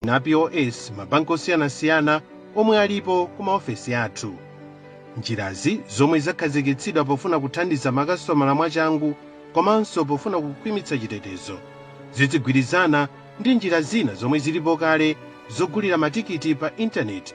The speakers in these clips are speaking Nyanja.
na POS mabanki osiyanasiyana omwe alipo ku maofesi athu. Njirazi, zomwe zakhazikitsidwa pofuna kuthandiza makasitomala mwachangu komanso pofuna kukhwimitsa chitetezo, zidzigwirizana ndi njira zina zomwe zilipo kale zogulira matikiti pa intaneti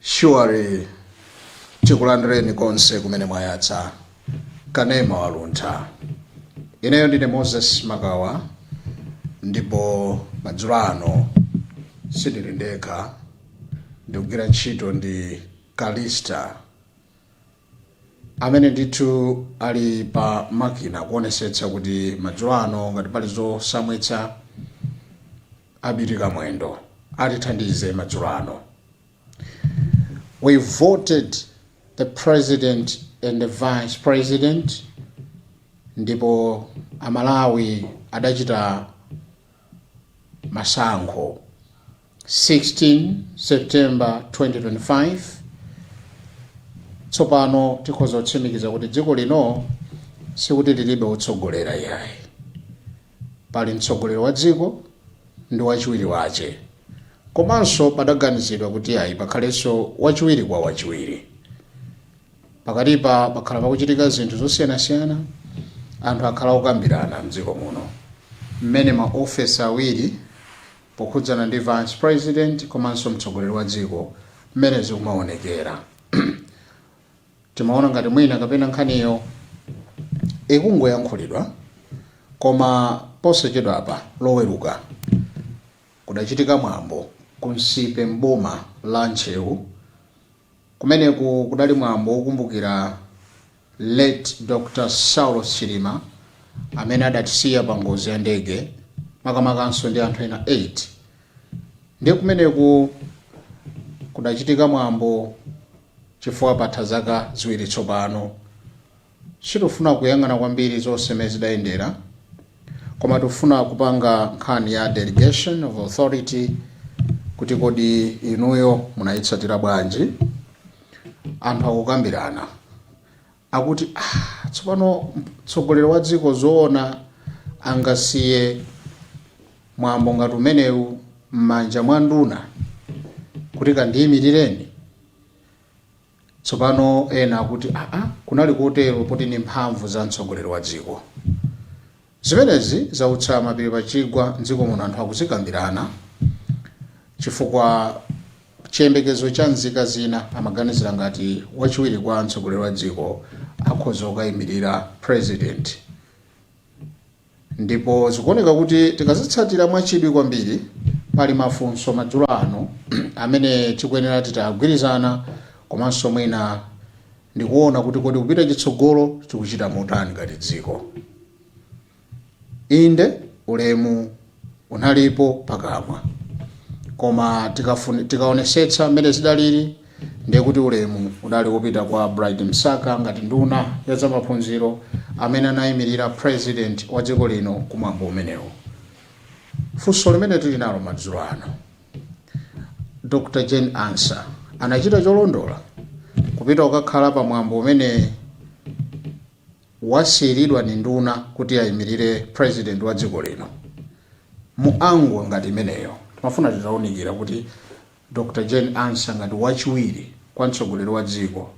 Surely tikulandireni konse kumene mwayatsa kanema waluntha ineyo ndine moses makawa ndipo madzulo ano sindili ndekha ndikugwira ntchito ndi kalista amene ndithu ali pa makina kuonesetsa kuti madzulo ano ngati pali zosamwitsa abiti kamwendo atithandize madzulo ano we voted the president and the vice president ndipo amalawi adachita masankho 16 september 2025 tsopano tikhoza kutsimikiza kuti dziko lino sikuti lilibe wotsogolera yayi pali mtsogoleri wa dziko ndi wachiwiri wache komanso padaganizidwa kuti ayi pakhalenso wachiwiri kwa wachiwiri pakatipa pakhala pakuchitika zinthu zosiyanasiyana anthu akhala okambirana mdziko muno mmene maofesi awiri pokhudzana ndi Vice President komanso mtsogoleri wa dziko mmene zikumaonekera timaona ngati mwina kapena nkhaniyo ikungoyankhulidwa koma posachedwapa loweruka kudachitika mwambo ku Nsipe m'boma la Ntcheu Kumeneku kudali mwambo wokumbukira late Dr Saulos Chilima amene adatisiya pa ngozi ya ndege makamakanso ndi anthu ena 8. Ndiye kumeneku kudachitika mwambo chifukwa patha zaka ziwiri tsopano. Sitofuna kuyang'ana kwambiri zonse mmene zidayendera koma tofuna kupanga nkhani ya delegation of authority kuti kodi inuyo munayitsatira bwanji? Anthu akukambirana akuti ah tsopano mtsogoleri wa dziko zoona angasiye mwambo ngati umenewu mmanja mwa nduna kuti kandiyimirireni? Tsopano, ena akuti, Ah, ah, kunali kotero poti ndi mphamvu za mtsogoleri wa dziko. Zimenezi zautsa mapiri pa chigwa m'dziko muno anthu akuzikambirana chifukwa chiyembekezo cha nzika zina amaganizira ngati wachiwiri kwa mtsogoleri wa dziko akhoza kukaimirira president. Ndipo zikuoneka kuti tikazitsatira mwachidwi kwambiri, pali mafunso madzulo ano amene tikuyenera titagwirizana komanso mwina ndi kuona kuti kodi kupita chitsogolo tikuchita motani ngati dziko. Inde, ulemu unalipo pakamwa. Koma tikaonesetsa mmene zidaliri, Ndiye kuti ulemu udali wopita kwa Bright Msaka ngati nduna ya zamaphunziro amene anayimilira president wa dziko lino ku mwambo umenewo. Funso limene tili nalo madzulo ano, Dr Jane Ansah anachita cholondola kupita kukakhala pa mwambo umene wasiyilidwa ndi nduna kuti ayimilire president wa dziko lino mu angle ngati imeneyo? Timafuna titaunikira kuti Dr. Jane Ansah ngati wachiwiri kwa mtsogoleri wa dziko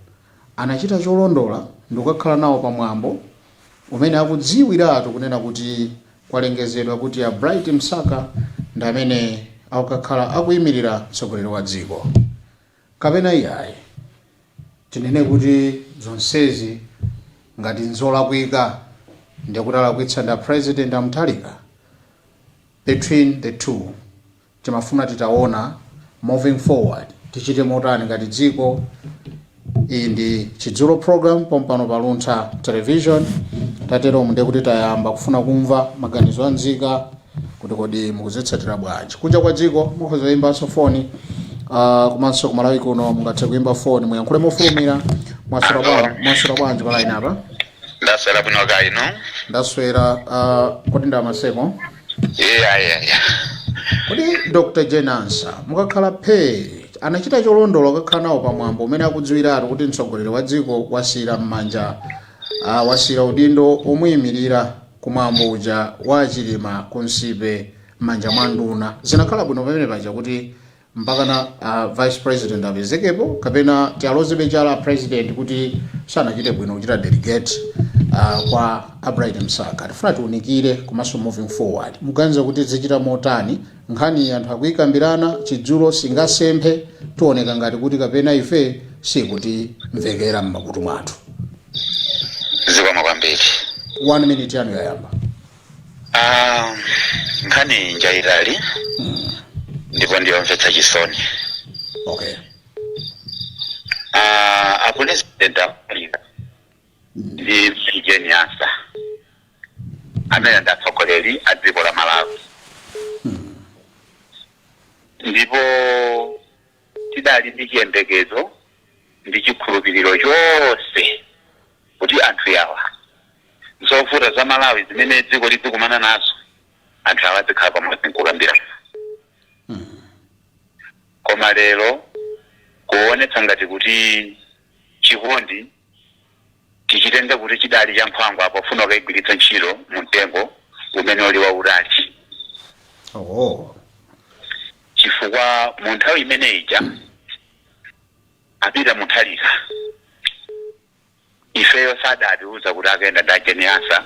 anachita cholondola ndikukakhala nawo pa mwambo umene akudziwiratu kunena kuti kwalengezedwa kuti a Bright Msaka ndi amene akukakhala akuimilira mtsogoleri wa dziko kapena iyayi. Tinene kuti zonsezi ngati nzolakwika ndekuti alakwitsa ndi a President a Mutharika? Between the two. Timafuna titaona moving forward tichite motani ngati dziko. Iyi ndi Chidzulo program pompano pa Luntha Television. Tateromu ndiye kuti tayamba kufuna kumva maganizo a nzika kuti kodi mukuzitsatira bwanji. Kunja kwa dziko mukhoza kuyimbanso foni ah, komanso ku Malawi kuno mungathe kuyimba foni muyankhule mofulumira mwaswera bwa- mwaswera bwanji pa line apa. ndaswera bwino kaya inu Ndaswera ah, kodi ndi a Maseko. yeah, yeah, yeah. kodi dr jane ansah mukakhala phee anachita cholondola kukakhala nawo pamwambo umene akudziwiratu kuti mtsogoleri wa dziko wasiyira m'manja ah, wasiyira udindo omuyimirira kumwambo uja wa a chilima ku nsipe m'manja mwa nduna zinakhala bwino pamene paja kuti mpakana a vice president apezekepo kapena tialozebe chala a president kuti sanachite bwino kuchita delegate uh, kwa a bright msaka tifuna tiunikire komanso moving forward muganiza kuti zichita motani nkhani anthu akuyikambirana chidzulo singasemphe tioneka ngati kuti kapena ife sikutimvekera m'makutu mwathu zikomo kwambiri one minute yanu yayamba Ah, nkhani njayitali ndipo ndiyomvetsa chisoni okay Ah, a president a mutharika ndi mayi jane ansah amene ndi atsogoleri a dziko la malawi ndipo Tidali ndi chiyembekezo ndi chikhulupiliro chonse kuti anthu awa zovuta za Malawi zimene dziko lidzikumana nazo anthu awa adzikhala pamodzi nkukambirana koma lero kuonetsa ngati kuti chikondi tichitenge kuti chidali cha nkhwangwa pofuna kukaigwiritsa ntchito mu mtengo umene uli wautali oh chifukwa mu nthawi imene ija apita Mutharika ifeyo sadatiuza kuti akaenda ndi a Jane Ansah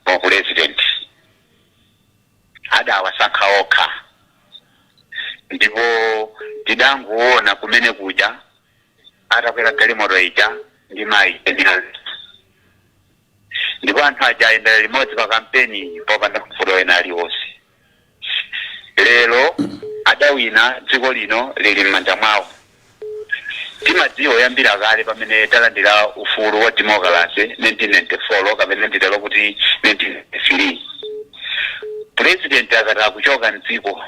wa pulezidenti adawasankha okha ndipo tidangoona kumene kuja atakwera galimoto ija ndi mayi Jane Ansah. ndipo anthu aja ayendera limodzi pa kampeni popanda mavuto ena aliwonse lero adawina dziko lino lili m'manja mwawo timadziwa kuyambira kale pamene talandira ufulu wa demokalase 1994 kapena nditero kuti 1993 purezidenti akati akuchoka mdziko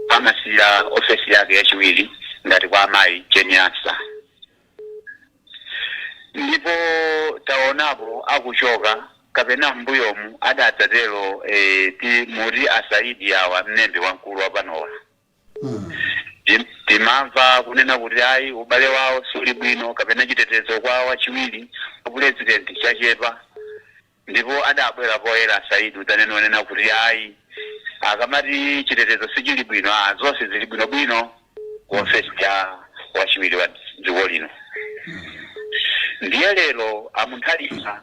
Amasiyira ofesi yake yachiwiri ngati kwa amayi Jane Ansah ndipo taonapo akuchoka kapena m'mbuyomu adadzatero e, ti, muti a Saidi awa mlembi wamkulu wapanowa Tim- timamva kunena kuti ayi ubale wawo suli bwino kapena chitetezo kwa wachiwiri wa pulezidenti chachepa Ndipo adabwera poyera a Saidi kudzanena kunena kuti ayi akamati chitetezo sichili bwino aah zonse zili bwino bwino ku ofesi ya wachiwiri wa dziko lino ndiye lero a Mutharika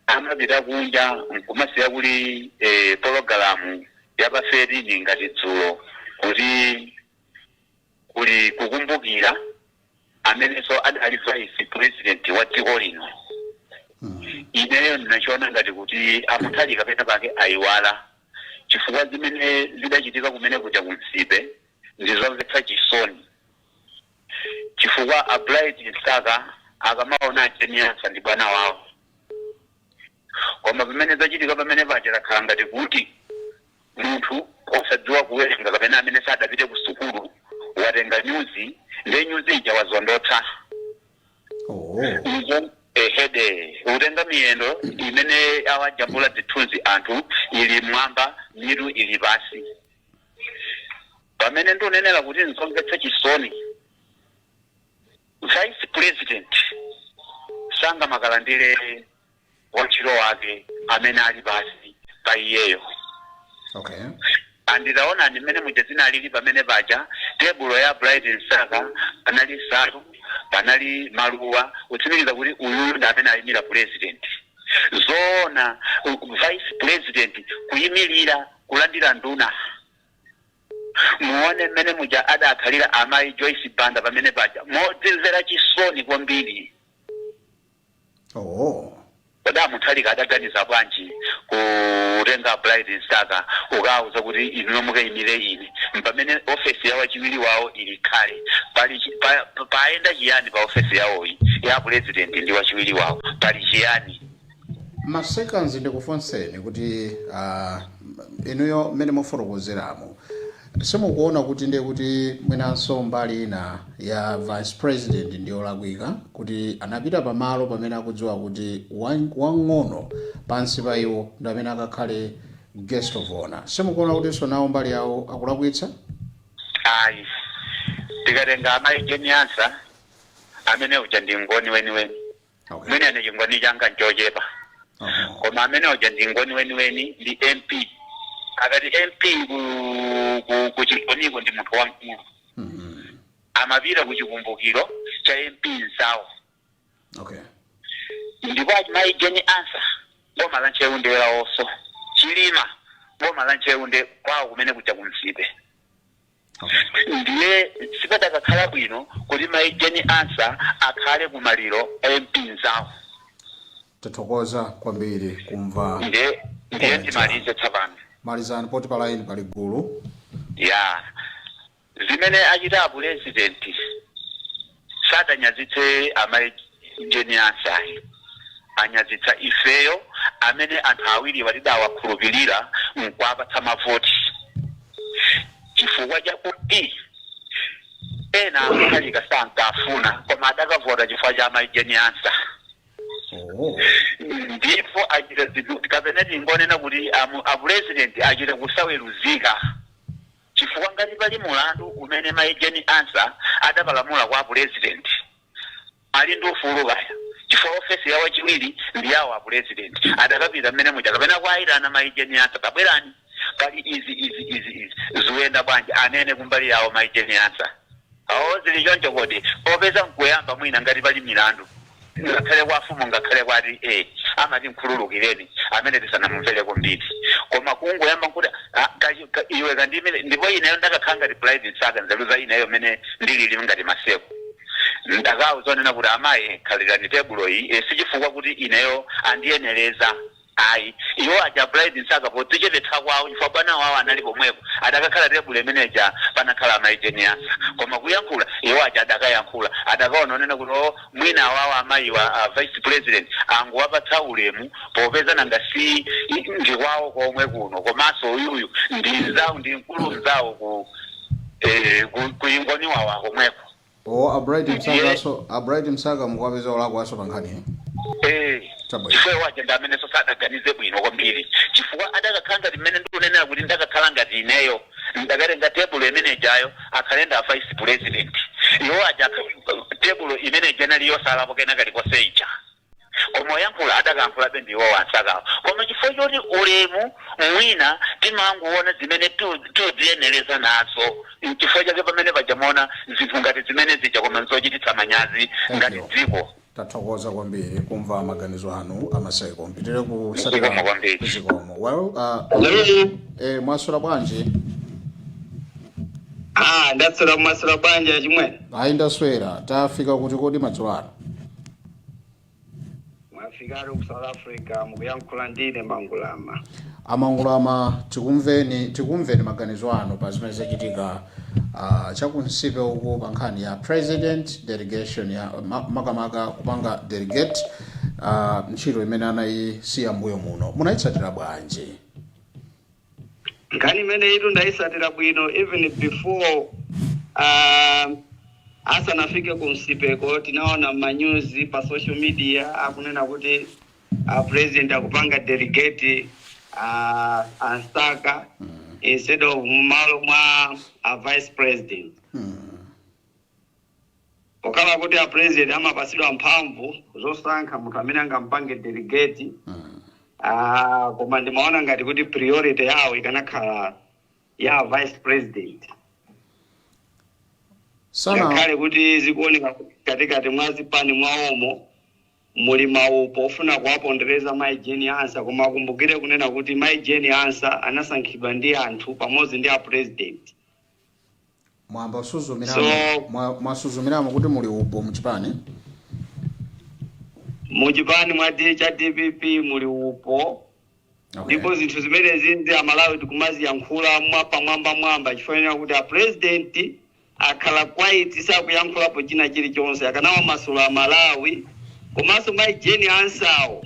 amapita kunja nkumasiya kuli eeh pologalamu ya pa 13 ngati dzulo kuti kuli kukumbukira. amenenso adali vice president wa dziko lino ineyo ndinachiona ngati kuti a Mutharika pena pake ayiwala chifukwa zimene zidachitika kumene kuja ku Nsipe ndizomvetsa chisoni chifukwa a Bright Msaka akamaona a Jane Ansah ndi bwana wawo Koma pamene zachitika pamene paja zakhala ngati kuti munthu osadziwa kuwerenga kapena amene sadapite ku sukulu watenga nyuzi ndiye nyuzi ija wazondotsa oh. izo ehede kutenga miyendo imene awajambula zithunzi anthu ili m'mwamba mitu ili pansi pamene ndikunenera kuti nzomvetsa chisoni vice president sangamakalandire wantchito wake amene ali pansi pa iyeyo. Okay. And taonani mmene muja zinalili pamene paja tebulo ya Bright Msaka panali nsalu, panali maluwa kutsimikiza kuti uyu ndi amene ayimira president. Zoona u- vice president kuyimirira kulandira nduna. Muone mmene muja adakhalira amayi Jane Ansah pamene paja modzimvera chisoni kwambiri. Oh. Kodi a Mutharika adaganiza bwanji kutenga a Bright Msaka kukawauza kuti inuyo mukaimire ine pamene ofesi ya wachiwiri wawo ili kale? Pali chi, pa, pa, paenda chiyani pa ofesi yawoyi ya pulezidenti ndi wachiwiri wawo? Pali chiyani? Ma seconds ndikufunseni kuti ah, inuyo mmene mukufotokozeramo Simukuona kuti ndiye kuti mwinanso mbali ina ya vice president ndi yolakwika kuti anapita pamalo pamene akudziwa kuti wan- wang'ono pansi pa iwo ndi amene akakhale guest of honor simukuona kutinso nawo mbali yawo akulakwitsa ayi tikatenga amayi Jane Ansah amene uja ndi mngoni weniweni Okay. mwina ine chingoni changa nchochepa Uh-huh. koma amene uja ndi mngoni weniweni ndi impi akati impi ku- ku- ku chingoniko ndi munthu wamkulu Mhm. amapita ku chikumbukiro cha impi mnzawo Okay. ndipo amayi Jane Ansah boma la Ntcheu ndi lawonso Chilima boma la Ntcheu ndi kwawo kumene kuja ku Nsipe ndiye sipadakakhala bwino kuti mai Jane Ansah asakhale ku maliro a impi mnzawo tathokoza kwambiri kumva ndiye ndiye ndimalize tsapano malizani poti pa line pali gulu ya zimene achita apulezidenti Sadanyazitse Amai Jane Ansah ayi, anyazitsa ifeyo amene anthu awiriwa tidawakhulupirira n'kuwapatsa mavoti chifukwa chakuti ena a Mutharika sankafuna koma adakavota chifukwa cha Amai Jane Ansah. Ndipo achita zinthu kapena tingonena kuti amu- apulezidenti achita kusaweruzika. chifukwa ngati pali mulandu umene mai Jane Ansah adapalamula kwa apulezidenti ali ndi ufulu kaya chifukwa ofesi ya wachiwiri ndi yawo apulezidenti adakapita mmene muja kapena kuaitana mai Jane Ansah tabwerani pali izi izi izi izi zikuyenda bwanji anene kumbali yawo mai Jane Ansah. Oh, zili choncho kodi? Popeza nkuyamba mwina ngati pali milandu ngakhale kwa afumu ngakhale kwa ati A amati mkhululukireni amene tisanamumvereko mbiri koma kungoyamba nkuti ah, ka, ka, iwe kandimire ndipo ineyo ndakakhala ngati Bright Msaka nzeru za ineyo mmene ndilili ngati Maseko ndakaona zonena kuti amayi khalirani tebulo iyi eh, sichifukwa kuti ineyo andiyenereza Ayi. Iwo aja a Bright Msaka podzichepetsa kwawo chifukwa bwana wawo anali komweko adakakhala tebulo imene ija panakhala a Mayi Jane Ansah koma kuyankhula iwo aja adakayankhula adakaona zonena kuti oh mwina awawo amayiwa a Vice President angowapatsa ulemu popeza nanga si ndi kwawo komwe kuno komanso uyuyu ndi mnzawo ndi mkulu mnzawo ku eh, ku, ku Chingoni wa komweko. o a Bright Msaka aso a Bright Msaka mukuwapeza olakwanso pa nkhani eh? Eh, Chabwino. chifukwa iwo aja ndi amenenso sadaganize bwino kwambiri chifukwa adakakhala ngati mmene ndikunenera kuti ndakakhala ngati ineyo ndakatenga tebulo imenejayo akhale ndi a vice president iwo aja akha- tebulo imeneja inali yosalapo kena kalikonse ija Koma oyankhula adakayankhulabe ndi iwowo a Msakawo. Koma chifukwa choti ulemu mwina timangoona zimene tidziyenereza nazo nchifukwa chake pamene paja mwaona zinthu ngati zimene zija koma nzochititsa manyazi ngati dziko. Tathokoza kwambiri kumva maganizo anu a Maseko. Mupitirize kutsatira zikomo. Well, uh, eh, mwaswera bwanji? Ah, ndaswera mwaswera bwanji achimwene? Ayi ndaswera. Tafika kuti kodi madzulo ano? Mwafikatu ku South Africa mukuyankhula ndi ine Mangulama. A Mangulama tikumveni maganizo anu pa zimene zachitika uh, cha ku Nsipe uko pa nkhani ya president delegation ya ma- makamaka kupanga delegate uh, ntchito imene anayisiya mbuyo muno munayitsatira bwanji? nkhani imeneyitu ndayitsatira bwino even before uh, asanafike ku Nsipeko tinaona manyuzi pa social media akunena kuti uh, president akupanga delegate uh, a Msaka instead of mmalo mwa uh, vice president Pokhala kuti a president amapatsidwa mphamvu zosankha munthu amene angampange delegate, ah, koma ndimaona ngati kuti priority yawo ikanakhala ya vice president. Ngakhale kuti zikuoneka katikati mwa chipani mwawomo muli maupo ofuna kuwapondereza Mayi Jane Ansah, koma akumbukire kunena kuti Mayi Jane Ansah anasankhidwa ndi anthu pamodzi ndi a president. mwamba suzumiramo So- mwa- mwasuzumiramo kuti muli upo muchipani muchipani mwa D- cha dpp muli upo okay. ndipo zinthu zimenezi ndi amalawi tikumaziyankhula mwapamwamba mwamba chifukwa kuti apurezidenti akhala quiet sakuyankhulapo china chilichonse akanawamasula a Malawi komanso mayi Jane Ansah-wo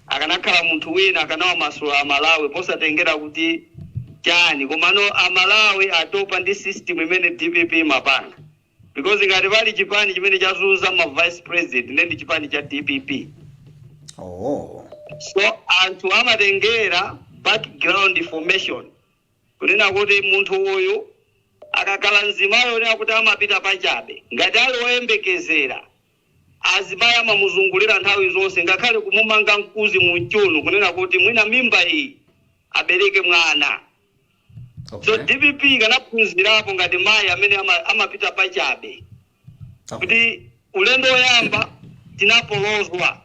Akanakhala munthu wina akanawamasula a Malawi posatengera kuti chani komano a Malawi atopa ndi system imene dpp imapanga because ngati pali chipani chimene chazunza ma vice president nde ndi chipani cha dpp Oh. so anthu amatengera background information kunena kuti munthu uyu akakhala mzimayi onena kuti amapita pachabe ngati ali oyembekezera Azimayi amamuzungulira nthawi zonse ngakhale kumumanga mkuzi m'chiuno kunena kuti mwina mimba iyi abereke mwana. So Okay. dpp ikanaphunzirapo ngati mayi amene ama, amapita pachabe Okay. kuti ulendo woyamba tinapolozwa,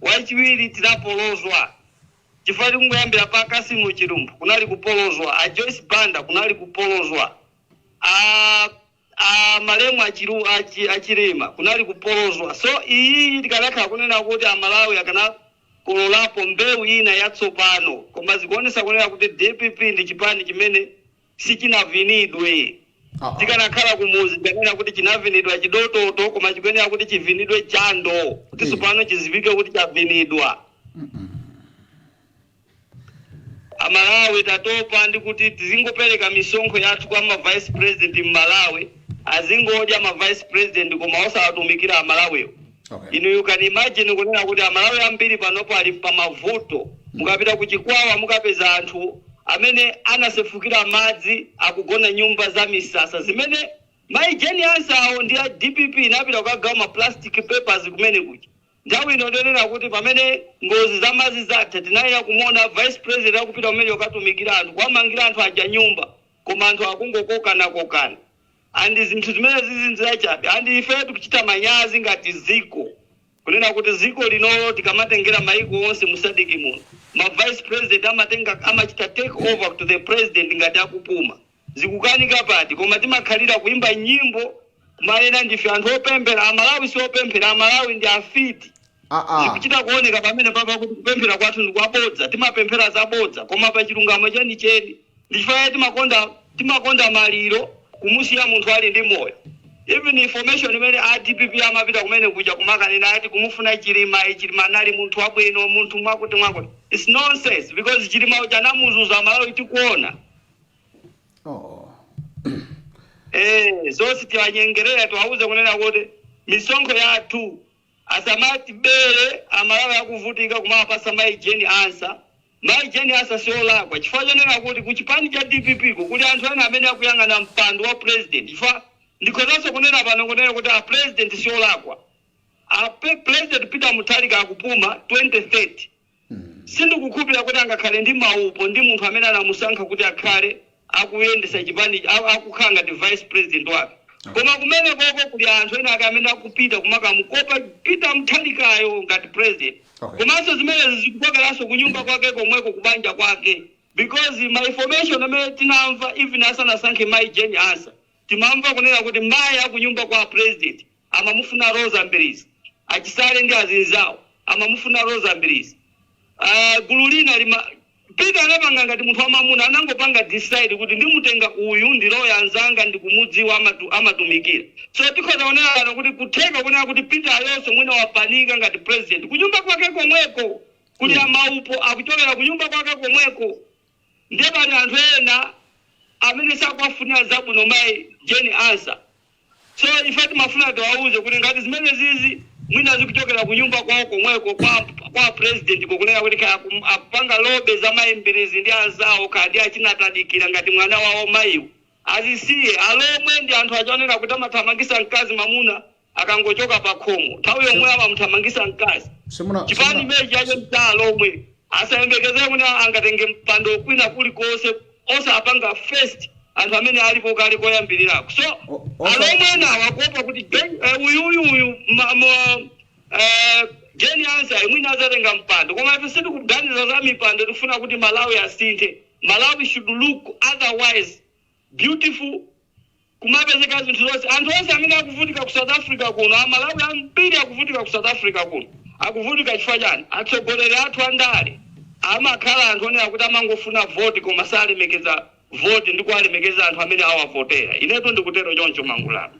wachiwiri tinapolozwa chifukwa tikungoyambira pa Kasimu Chilumphu kunali kupolozwa, a Joyce Banda kunali kupolozwa, a a malemu a chilu a chi a chilima kunali kupolozwa so iyiyi tikanakhala kunena kuti a malawi akanakololapo mbewu ina yatsopano koma zikuonesa kunena kuti dpp ndi chipani chimene sichinavinidwe Uh-uh. tikanakhala kumuzi tikanena kuti chinavinidwa chidototo koma chikuyenera kuti chivinidwe jando kuti Eh. tsopano chiziwike kuti chavinidwa Mm-mm. Amalawi tatopa ndi kuti tizingopereka misonkho yathu kwa ma vice president mmalawi azingodya ma vice president koma osawatumikira amalawiwo Okay. inu you can imagine kunena kuti amalawi ambiri panopo ali pamavuto mukapita ku chikwawa mukapeza anthu amene anasefukira madzi akugona nyumba za misasa zimene mayi Jane Ansah-wo ndi a dpp inapita kukagawa ma plastic papers kumene kuja Nthawi ino ndiyonena kuti pamene ngozi za madzi zatha tinayenera kumuona vice president akupita kumeneko kukatumikira anthu kuwamangira anthu aja nyumba koma anthu akungokokana kokana and zinthu zimenezizi ndizachabe and ifeyo tikuchita manyazi ngati ziko kunena kuti ziko linolo tikamatengera maiko onse mu sadc muno ma vice president amachita take over to the president ngati akupuma zikukanika pati koma timakhalira kuimba nyimbo kumanena ndife anthu opemphera amalawi siopemphera amalawi ndi afiti aa zikuchita kuoneka pamene papa kuti kupemphera kwathu ndi kwabodza timapemphera zabodza koma pa chilungamo chenicheni ndi chifukwa chake timakonda timakonda maliro kumusiya munthu ali ndi moyo even information imene a dpp amapita kumene kuja kumakanena ati kumufuna chilima chilima anali munthu wabwino munthu mwakuti mwakuti its nonsense because chilima uja anamuzunza amalawi tikuona oh. Eh, zonse tiwanyengerera tiwauze kunena kuti misonkho yathu asamatibere amalawi akuvutika kumawapasa mayi Jane Ansah mayi Jane Ansah siolakwa chifukwa chonena kuti ku chipani cha dpp ko kuli anthu ena amene akuyang'ana mpando wa president chifukwa ndikhozanso kunena pano kunena kuti a president siolakwa president Peter Mutharika akupuma 2030 Sindikukhulupilira kuti angakhale ndi maupo ndi munthu amene anamusankha kuti akhale akuyendesa chipani, a, a, kukhala ngati vice president wake. Koma kumenekoko kuli anthu enaake amene akupita kumakamukopa Peter Mutharikayo ngati president. Okay. Komanso zimenezi zikukokeranso kunyumba kwake komweko kubanja kwake because ma information amene tinamva even asanasankhe mayi Jane Ansah timamva kunena kuti mayi akunyumba kwa a president amamufuna Roza Mbilizi, a Chisale ndi azinzawo amamufuna Roza Mbilizi. Aaa gulu lina lima. Peter anapanga ngati munthu wamamuna anangopanga decide kuti ndimutenga uyu ndi lawyer mnzanga ndikumudziwa amatu amatumikira. So tikhoza kunena pano kuti kutheka kunena kuti Peter nayenso mwina wapanika ngati president kunyumba kwake komweko kuli maupo akuchokera kunyumba kwake komweko. Ndiye pali anthu ena amene sakuwafunira zabwino mai Jane Ansah. So ife timafuna tiwauze kuti ngati zimenezizi mwina zikuchokera kunyumba kwawo komweko kwa kwa president ko kunena kuti kaya akum- akupanga lobby za mai Mbilizi ndi anzawo kaya ndi achina Tadikira ngati mwana wawo maiwo. Azisiye alomwe ndi anthu ajawa onena kuti amathamangisa mkazi mamuna akangochoka pakhomo nthawi yomweyo amamuthamangisa mkazi Simuna- chipani simuna- chimenechi choti alomwe asayembekezere kuti angatenge mpando kwina kulikonse osapanga first anthu amene alipo kale koyambirirako so O- osa- alomwe enawa akuopa kuti Jen- eh, uyu uyu uyu ma- ma- eh, Jane Ansah mwina azatenga mpando koma ife sitikuganiza za mipando tikufuna kuti malawi asinthe malawi should look otherwise Beautiful kumapezeka zinthu zonse anthu onse amene akuvutika ku south africa kuno amalawi ambiri akuvutika ku south africa kuno akuvutika chifukwa chani atsogoleri athu andale amakhala anthu onena kuti amangofuna voti koma salemekeza voti ndi kuwalemekeza anthu amene awavotera inetu ndikutero choncho madzulo ano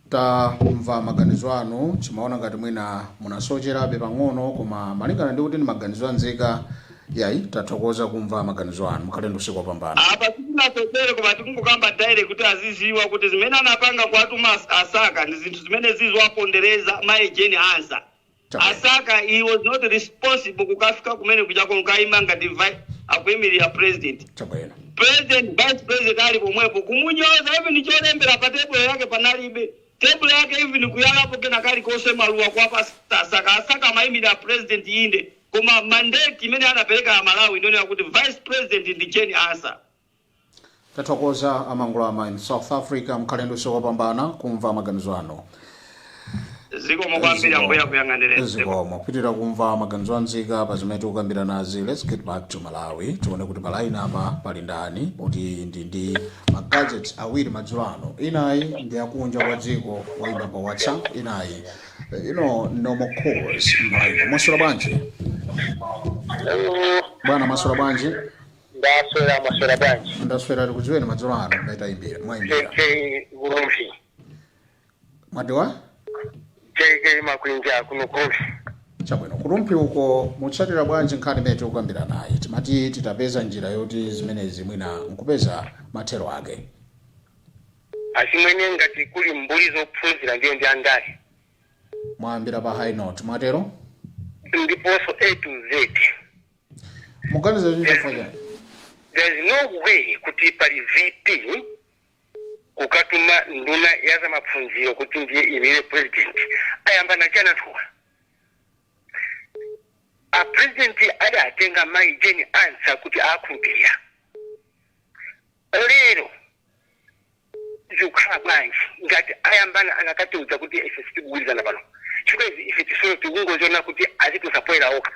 Tamva maganizo anu, timaona ngati mwina munasocherabe pang'ono koma malingana ndi kuti ndi maganizo anzika yayi tathokoza kumva maganizo anu mukhale ndi usiku wopambana. Apa sitinasochere koma tikungokamba direct kuti aziziwa kuti zimene anapanga kuwatuma a Msaka ndizinthu zimene ziziwapondereza mai Jane Ansah. a Msaka he was not responsible kukafika kumene kuja kukaima ngati vi- akuimirira president chabwino president vice president ali pomwepo kumunyoza even cholembera pa tebulo yake panalibe tebulo yake even kuyalapo kena kalikonse maluwa kuwapatsa a Msaka a Msaka amaimira president inde koma mandate imene anapereka amalawi ndi yonena kuti vice president ndi Jane Ansah tathokoza amangulama in south africa mukhale ndi usiku wopambana kumva maganizo anu zikomo kwambiri ambuye akuyang'anireni zikomo tipitilira kumva maganizo anzika pa zimene tikukambiranazi let's get back to malawi tione kuti palaini yapa pali ndani kuti ndi ndi magadgets awiri madzulo ano inayi ndi yakunja kwa dziko oyimba pa whatsapp inayi eh, you know normal calls palaini mwaswera bwanji bwana mwaswera bwanji Ndaswera mwaswera bwanji? Ndaswera tikudziweni madzulo ano kumene tayimbira JK mwayimbira. Kulumpi. Mwati a? JK Makwinja kuno kulumpi. Chabwino kulumpi uko mutsatira bwanji nkhani imene tikukambiranayi. Timati titapeza njira yoti zimenezi mwina nkupeza mathero ake. Achimwene ngati kuli mbuli zophunzira ndiye ndi andale. Mwayambira pa high note mwatero? Ndiponso A to Z. muganiza choncho chifukwa chani there is no way kuti pali vp kukatuma nduna ya za maphunziro kuti ndiye ayimire president ayambana chani anthuwa a president adatenga mayi jeni ansa kuti awakhulupirira lero zikukhala bwanji ngati ayambana anakatiuza kuti ife sitikugwirizana pano chifukwa ife tizo tikungoziona kuti azitulutsa poyera okha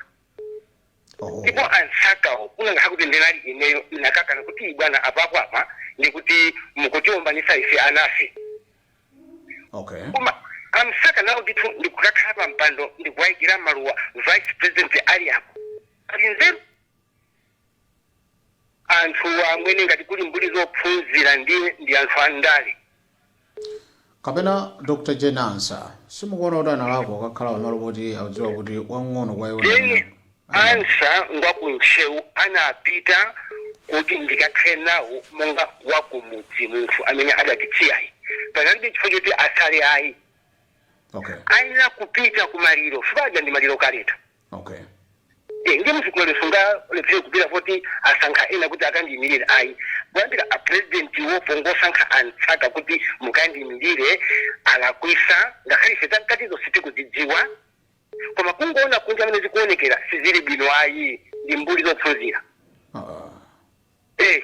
Oh. ndipo a msakawo kunakakhala kuti ndinali ineyo ndinakakana kuti bwana apapo apa ndikuti mukutiombanisa ife anafe Okay. koma a msaka nawo ndithu ndikukakhala pa mpando ndikuwayikira maluwa vice president ali apo ali nzeru anthu amwene ngati kuli mbuli zophunzira ndiye ndi anthu andale kapena dr jane ansa simukuona kuti analakwa kukakhala pamalo poti akudziwa kuti wang'ono kwa iwo ndi amene- then ansa ngwa ku ntcheu anapita kuti ndikakhale nawo monga wakumudzi munthu amene adatitsiyayi panalibe chifukwa choti asale ayi okay ayenera kupita ku maliro fukwa aja ndi maliro kaleta okay Eh, ndiye sikumene angalephere kupita poti asankha ena kuti akandiyimirire ayi kuyambira a president wo pongosankha a msaka kuti mukandiyimirire alakwisa ngakhale ife zamkatizo sitikuzidziwa koma kungoona kunja mmene zikuonekera sizili bwino ayi ndi mbuli zophunzira Ah, eh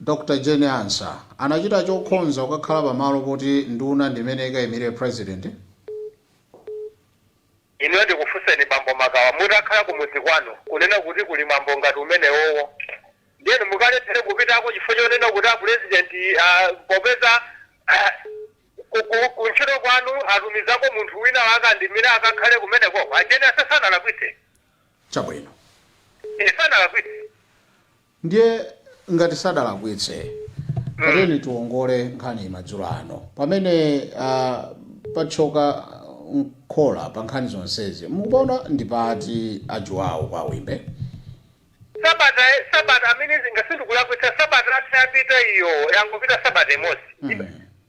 Dr Jane Ansah anachita chokhonza kukakhala pa malo poti nduna ndi imene ikayimire President. Inuyo ndikufunseni bambo Makawa mutakhala kumudzi kwanu kunena kuti kuli mwambo ngati umenewowo ndiye inu mukalephere kupitako chifukwa chonena kuti a President popeza ku ntchito kwanu atumizako munthu wina akandimire akakhale kumenekoko? A Jane Ansah sanalakwitse. Chabwino. Eeh sanalakwitse. Ndiye ngati sadalakwitse, tatiyeni tiwongole nkhaniyi madzulo ano. Pamene patchoka mkhola pa nkhani zonsezi, mukupaona ndi pati a Juwawo kwa Wimbe? Sabata sabata, I mean, ngati sindikulakwitsa, sabata yatha yapita iyo, yangopita sabata imodzi.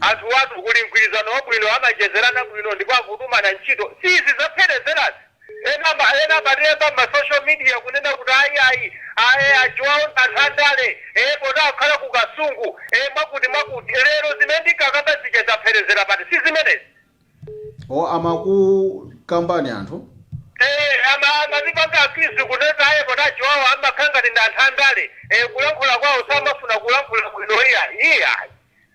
Anthuwatu kuli mgwirizano wabwino amachezerana bwino ndipo akutumana ntchito si izi zapherezerazi. Ena ena amatilemba mma social media kunena kuti ayi ayi aye a Juwawo ndi anthu andale ee poti akukhala ku Kasungu ee mwakuti mwakuti lero zimene ndinkakamba zija zapherezera pati si zimenezi. Or amakukambani anthu? Eee ama amatipanga accuse kunena aye poti a Juwawo amakhala ngati ndi anthu andale ee kulankhula kwawo samafuna kulankhula bwino iya iyayi.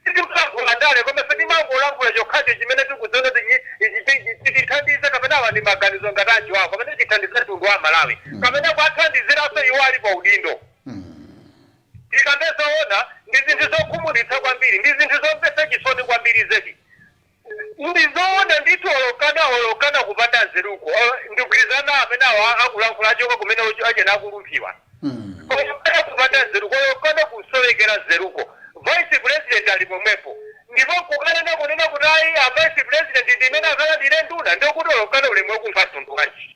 Sitimalankhula ndale koma ife timangolankhula chokhacho chimene tikudziona kuti ichi ichi chi- chi- chitithandiza kapena awa ndi maganizo ngati a Juwawo kapena chithandiza mtundu wa Malawi kapena kuwathandiziranso iwo ali pa udindo tikambe zoona ndi zinthu zokhumudwitsa kwambiri ndi zinthu zomvetsa chisoni kwambiri zedi Ndizoona ndithu olo okana olo okana kupanda nzeruko or ndikugwirizana amene awa akulankhula achoka kumene uju achena akulumpiwa koma kupanda kupanda nzeruko olo okana kusowekera nzeruko vice president ali pomwepo ndipo nkukanena kunena kuti ayi a vice president ndi amene akalandire nduna ndekuti olo okana ulemu wake wa mtundu wanji?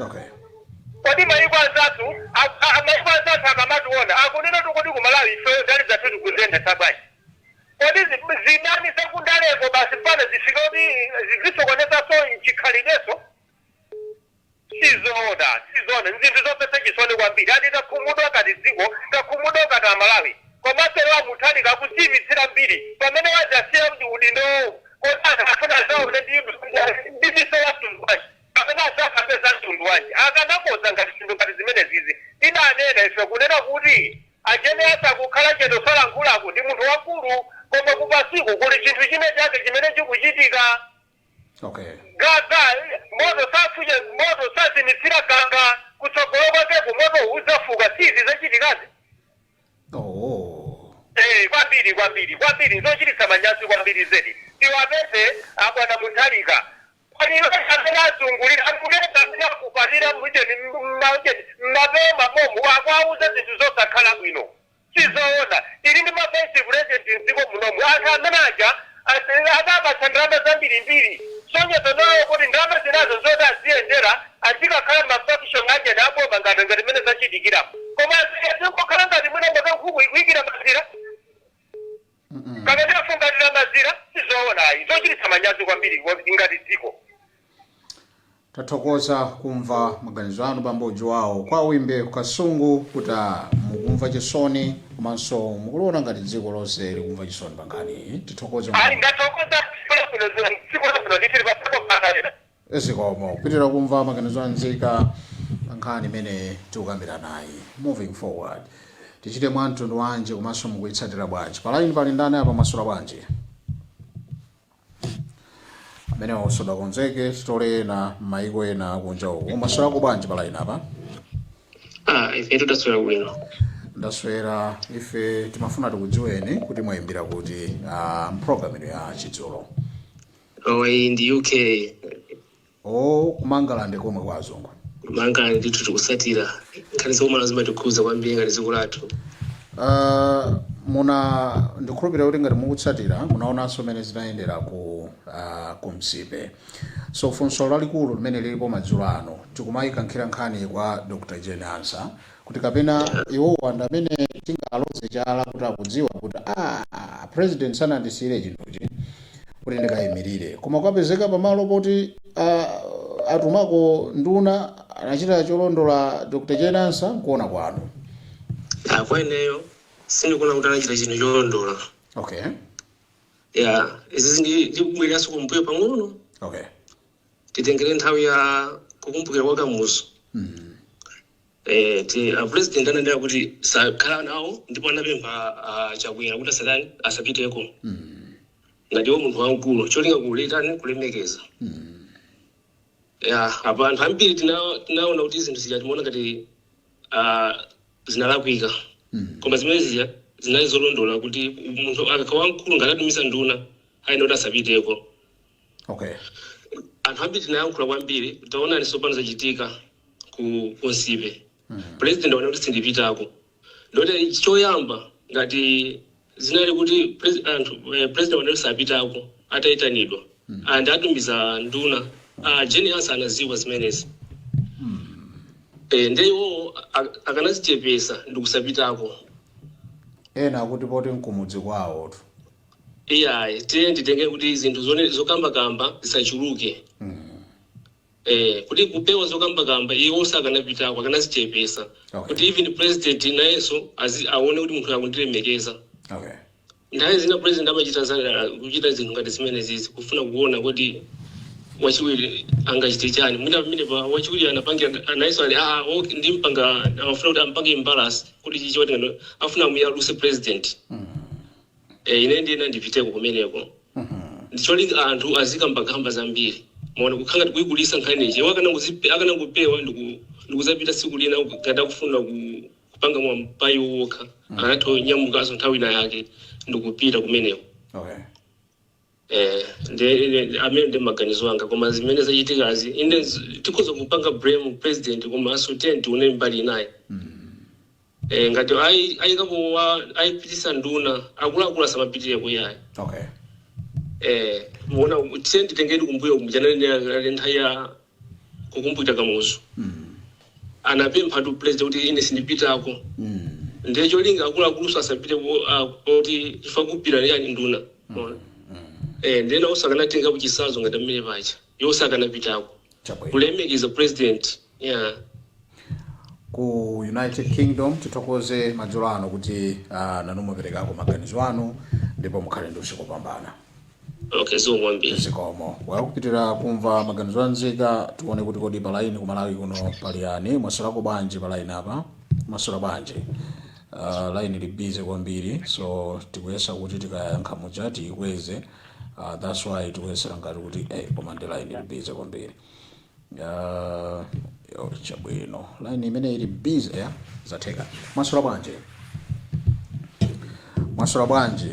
okay kodi maiko anzathu a- a- maiko anzathu akamationa akunena kuti kodi kumalawi ifeyo ndale zathu tikuziyendetsa bwanji kodi zi- zidani zakundaleko basi mpaka zifike kuti zizisokonezanso chikhalidwenso sizoona sizoona nzinthu zomvetsa chisoni kwambiri ati takhumudwa ngati dziko takhumudwa ngati amalawi komanso iwo a Mutharika akudziipitsira mbiri pamene wadzasiya kuti udindowo kodi anthu afuna adzawaone ndi ndi miso yamtundu bwanji kapena adzakambe za mtundu wanji akanakonza ngati zinthu ngati zimenezizi? Tidanena ife kunena kuti a Jane atha kukhala chete osalankhulako ndi munthu wamkulu koma kupasiku kuli chinthu china chake chimene chikuchitika okay gaga moto safuye moto sazimitsira gaga kutsogolo kwakeku moto udzafuka si izi zachitikazi oh Eh, kwambiri kwambiri kwambiri zochititsa manyazi kwambiri zedi tiwapeze abwana Mutharika Maliro ena amene azungulira anthu mesa amene akupatira mujeni mujeni mmapewa mwawomu akuwauza zinthu zosakhala bwino sizoona tili ndi ma vice president mdziko munomu anthu amene aja adapatsa ndalama zambirimbiri kusonyeza nawo kuti ndalama zinazo nzoti aziyendera azikakhala mma function aujeni a boma ngati ngati mmene zachitikiramu koma zikangokhala ngati mwina mpaka nkhuku ikuikira mazira Kapena afungatira mazira? Si zoona ayi. N'zochititsa manyazi kwambiri ngati dziko. Tathokoza kumva maganizo anu bambo Juwawo kwa Wimbe ku Kasungu kuti a mukumva chisoni komanso mukuliona ngati dziko lonse likumva chisoni pa nkhaniyi. Tithokoze Ayi, kwambiri. ndathokoza. Tsiku labwino, tsiku labwino ndithu. Tipatsepo mpata wina. zikomo tipitirize kumva maganizo a nzika pa nkhani imene tikukambiranayi moving forward tichite mwa mtundu wanji komanso mukuitsatira bwanji pa line pali ndani apa mwaswera bwanji amene wakusoda konzeke sitole ena m'mayiko ena akunja uku mwaswerako bwanji pa line apa Ah, ife taswera bwino ndaswera ife timafuna tikudziweni kuti mwayimbira kuti ah, mpulogalamu ino ya chidzulo Oh, iyi ndi UK. Oh, kumangalande komwe kwa azungu. Kumangalande ndithu tikusatira. Nkhani zakumalawi zimatikhuza kwambiri ngati dziko lathu. Uh, muna ndikhulupirira kuti ngati mukutsatira munaonanso mmene zinayendera ku uh, ku nsipe so funso lalikulu limene lilipo madzulo ano tikumaikankhira nkhani kwa dr jane ansa kuti kapena iwo ndi amene tingaloze chala kuti akudziwa kuti a president sanandisiyire chinthuchi kuti ndikayimirire koma kwapezeka pamalo poti ah, atumako nduna anachita cholondola dr jane ansa nkuona kwanu Ah, kwa ineyo sindikuona kuti anachita chinthu cholondola okay ya izizi ndi- ndikubwereranso kumbuyo pang'ono okay titengere nthawi ya kukumbukira kwa kamuzu eti a president ananena kuti sakhala nawo ndipo anapempha a chakwera kuti asatani asapiteko ngati iwo munthu wamkulu cholinga kutani kulemekeza ya apa anthu ambiri tina- tinaona kuti zinthu zija timaona ngati ah, zinalakwika koma zimene zija zinali zolondola kuti munthu akakhala wamkulu ngati atumiza nduna ayenera kuti asapiteko okay anthu ambiri tinayankhula kwambiri taonani tsopano zachitika ku kunsipe president aona kuti sindipitako ndoti choyamba ngati zinali kuti pres- anthu eh, president aona kuti sapitako atayitanidwa and atumiza nduna ah, jane ansa anaziwa zimenezi Eh, nde iwowo ak- akanazichepesa ndikusapitako ena akuti poti nkumudzi kwawo tu Iyayi, tiyeni nditenge kuti zinthu zone- zokambakamba zisachuluke eh, kuti kupewa zokambakamba iwo sakanapitako akanazichepesa Okay. kuti even president nayenso azi- aone kuti munthu akundilemekeza okay nthawi zina president amachita za- kuchita zinthu ngati zimenezizi kufuna kuona kuti wachiwiri angachite chani mwina pamene pa wachiwiri anapangira nayenso ali ah okay ndimpanga amafuna kuti ampange imbalance kuti chifukwa choti ngati afuna amuyaluse president Eh, ine ndiye ndipiteko kumeneko ndicholinga anthu azikambakamba zambiri mwaona kukhala ngati kuyikulisa nkhani ichi iwo akanangozipe- akanangopewa ndiku- ndikuzapita tsiku lina ngati akufuna ku- kupanga mwapayiwokha akanatha kunyamukaso nthawi ina yake ndikupita kumeneko okay Eh, ndi ine- ndi- amene ndiye maganizo anga koma zimene zachitikazi ine z- tikhoza kupanga blame president komanso tiye tione mbali inayo eh, ngati ayi- ayikapo wa- ayipitisa nduna akuluakulu asamapitireko iyayi okay eh, mwaona tiye titengere kumbuyo kumjananenera nthawi ya kukumbukira kamuzu anapempha tu president kuti ine sindipitako ndiye cholinga akuluakuluso asapite ku- ah, kuti kukupita ndani nduna Unaona? eh ndiye nawo sakanatenga chisazo ngati mmene paja iwo sakanapitako Chabwino. kulemekeza president yeah ku united kingdom tithokoze madzulo ano kuti uh, nanu muperekako maganizo anu ndipo mukhale ndi usiku wabwino Okay, zikomo kwambiri. zikomo well tikupitiriza kumva maganizo a nzika tione kuti kodi palaini ku malawi kuno pali ndani mwaswerako bwanji palaini apa mwaswera bwanji uh, laini ili busy kwambiri so tikuyesa kuti tikayankha muja tiyikweze uh, thats why tikuyesera ngati kuti eh, koma ndi laini ili busy kwambiri uh, yo, chabwino laini imene ili busy ya zatheka mwaswera bwanji mwaswera bwanji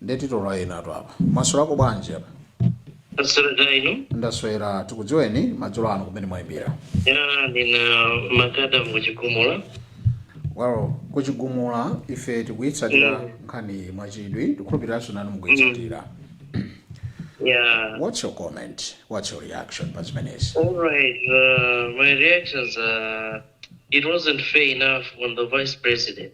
nde titole enatu apa mwaswerako bwanji apa Ndaswera kaya inu. ndaswera tikudziweni madzulo ano kumene mwayimbira Ya ndine makada mkuchigumula. well kuchigumula ife tikuyitsatira Mm. nkhani mwachidwi tikhulupiriranso nanu mukuyitsatira Ya. what's your comment what's your reaction pa zimenezi All right. Uh, my reactions are. It wasn't fair enough on the vice president.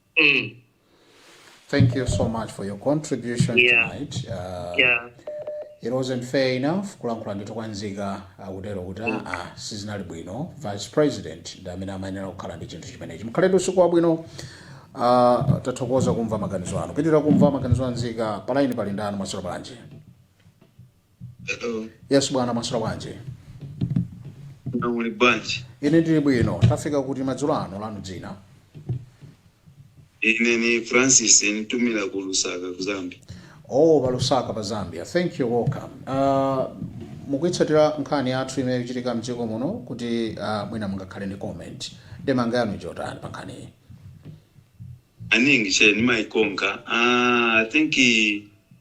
Mm. Thank you so much for your contribution Yeah. tonight. Uh, Yeah. it wasn't fair enough kulankhula ndithu kwa nzika akutero kuti aa sizinali bwino vice president ndi amene amayenera kukhala ndi chinthu chimenechi mukhale ndi usiku wabwino uh, tathokoza kumva maganizo anu tipitirize kumva maganizo anzika palaini pali ndani mwaswera bwanji Hello. yes bwana mwaswera bwanji Hello, muli bwanji? ine ndili bwino tafika kuti madzulo ano lanu dzina Ine ni Francis nitumira ku Lusaka ku Zambia. oh palusaka pa zambia thank you welcome uh, mukuitsatira nkhani yathu imene ikuchitika mdziko muno kuti uh, mwina mungakhale ndi comment ndemanga yanu njotani pa nkhaniyi Maningi che nimaikonka. Ah, I think eh,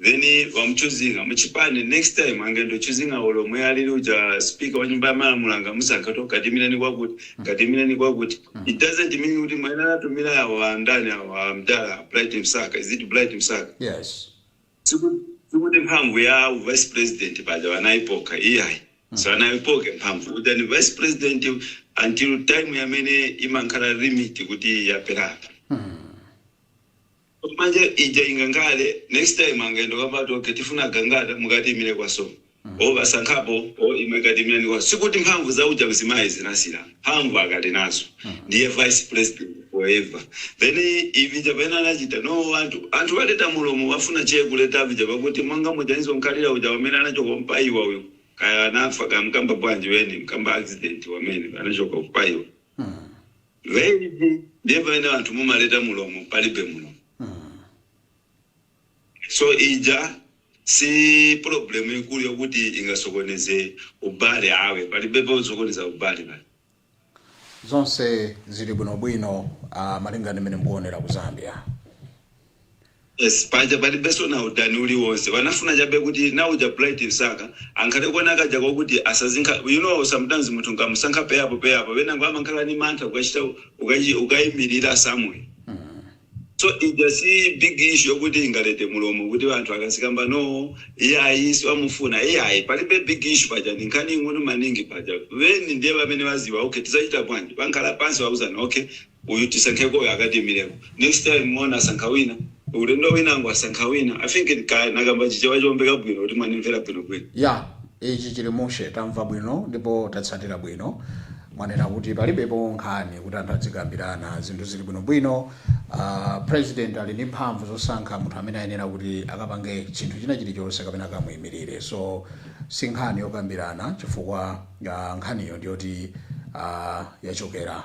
Then bamuchoosing'a muchipani next time angendo choosing'a olo omwe alili uja speaker wanyumba yamalamulo angamusankha kuti katiimileni kwakuti katiimileni kwakuti it doesn't mean kuti mwene anatumila awa andani awa amdala bright msaka is it bright msaka Yes. siku sikuti mphamvu ya u vice president paja wanayipoka iyayi sanayipoke mphamvu uja ndi vice president until time yamene imankhala limit kuti yathera apa Manje ija ingankale next time angayendo kapati okay tifuna Gangata mukatiimile kwa Song or basankhapo or imwe katiimileni kwa sikuti mphamvu za uja mzimayi zinasila mphamvu akali nazo ndiye vice president forever then ivija vene anachita no anthu anthu baleta mulomo bafuna che kuleta vija bakuti monga muja nizonkhalila uja wamene anachoka mpaiwa uyu kaya anafa kaya mkamba bwanji weni mkamba accident wamene anachoka mpaiwa Gayz ndiye pamene anthu mumaleta mulomo palibe mulomo so ija si problem ikulu yokuti ingasokoneze ubale awe palibe posokoneza ubale pali. Zonse zili bwino bwino malingana ndi mmene mukuonera ku Zambia. Yes, paja palibenso na udani uliwonse wanafuna chabe kuti na uja bright msaka ankhale kona kaja kokuti asazinkha you know sometimes munthu nkamusankha peyapo peyapo venango amankhala ni mantha ukachita ukachi- ukayimirira somewhere so ija si big issue yokuti ingalete mulomo kuti vanthu akasikamba no iyayi siwamufuna iyayi palibe big issue paja ni nkhani ing'ono maningi paja veni ndiye vamene vaziva okay tizachita bwanji vankhala pansi vauzana okay Uyu tisankheko uyu akatiimileko next time mwaona asankha wina ulendo winango asankha wina i think kaya nakamba chichewa chomveka bwino kuti mwanimvera bwino bwino. Ya, ichi chili mushe tamva bwino ndipo tatsatira bwino. Mwanena kuti palibepo nkhani kuti anthu adzikambirana zinthu zili bwino bwino. Aaa president ali ndi mphamvu zosankha munthu amene ayenera kuti akapange chinthu china chili chonse kapena akamuimilire so sinkhani yokambirana chifukwa nkhaniyo ndiyoti aaa yachokera.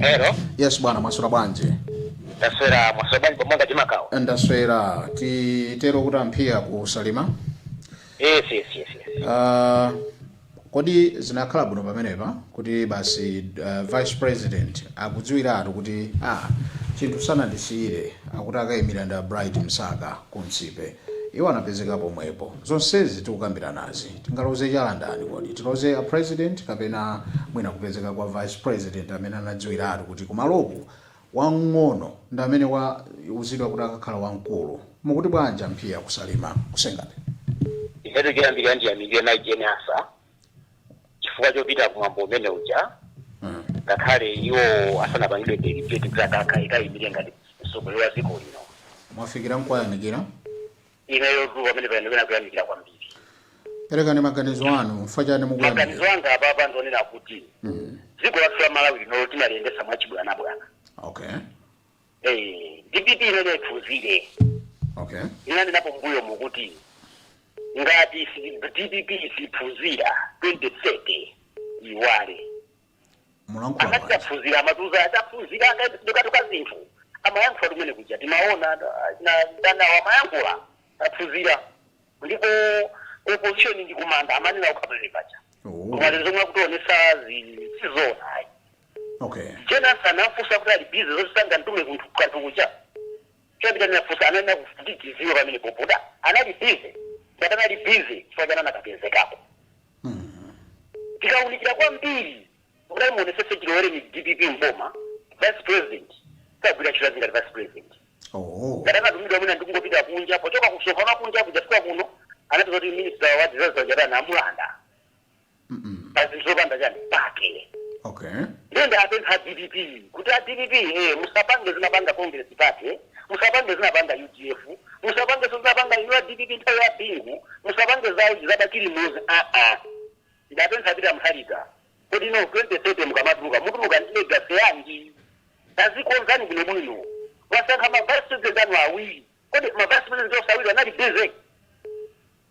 Hello. yes bwana mwaswera bwanji Taswera mwaswera bwanji pomanga chimakawo. ndaswera titero kuti amphiya ku salima Yes, yes, yes, yes. Ah, kodi zinakhala bwino pamenepa kuti basi ah, vice president akudziwiratu kuti ah, zinthu sanandisiyire akuti akayimira ndi a bright msaka ku Nsipe. Iwo anapezeka pomwepo. Zonsezi tikukambiranazi, tingaloze chala ndani kodi? Tiloze a President kapena mwina kupezeka kwa Vice President amene anadziwiratu kuti kumaloku wang'ono ndi amene wauzidwa kuti akakhala wamkulu? Mukuti bwanji a Mphia ku Salima ku Senga Bay? Ifetu choyambirira ndiyamikire Mayi Jane Ansah chifukwa chopita kumwambo umene uja ngakhale iwo asanapangidwe delegate kuti akakha akayimire ngati mtsogoleri wa dziko lino mwafikira nkuwayamikira ineyotu pamene pano pena kuyamikira kwambiri perekani maganizo anu chifukwa chani maganizo mukuyamikira anga apapa ndionena kuti dziko lathu la malawi lino timaliyendesa mwachibwanabwana okay eh, dpp imene iphunzire okay ndinanenapo mbuyomu kuti ngati si- dpp siphunzira 2030 iwale polankhula amati bwanji taphunzira amatiuza taphunzira akatuka zinthu amayankhula kumene kuja timaona andawa amayankhula taphunzira ndipo opposition ndi kumanda amanena ukhaperepacha Oh. koma lero zomwe akutionesa sizoona ayi Okay. Jane Ansah anafunsa kuti ali busy zoti sangantume kunthu kanthu kuja. Chapita ndinafunsa ananena kuti tiziwe pamene popoda. Anali busy. Ngati anali busy chifukwa chani anakapezekako. Tikaunikira kwambiri kudali muonesese chilowere ni DPP mboma vice president sagwira ntchito zake ngati vice president. Oh. Ngati akatumidwa mwina ndikungopita kunja pochoka kumsonkhano kunja kujafika kuno anapeza kuti minister wa disaster uja anamulanda. pa zinthu zopanda chani pake okay ndiye ndapempha a dpp kuti a dpp eh, musapange zinapanga congress party musapange zinapanga udf musapangenso zinapanga inu a dpp nthawi ya bingu musapange za a bakili muluzi aa ndapempha a peter mutharika kodi inu 2030 mukamatuluka mutuluka ndi legacy yanji tazikonzani bwino bwino mwasankha ma vice president anu awiri kodi ma vice president onse awiri anali busy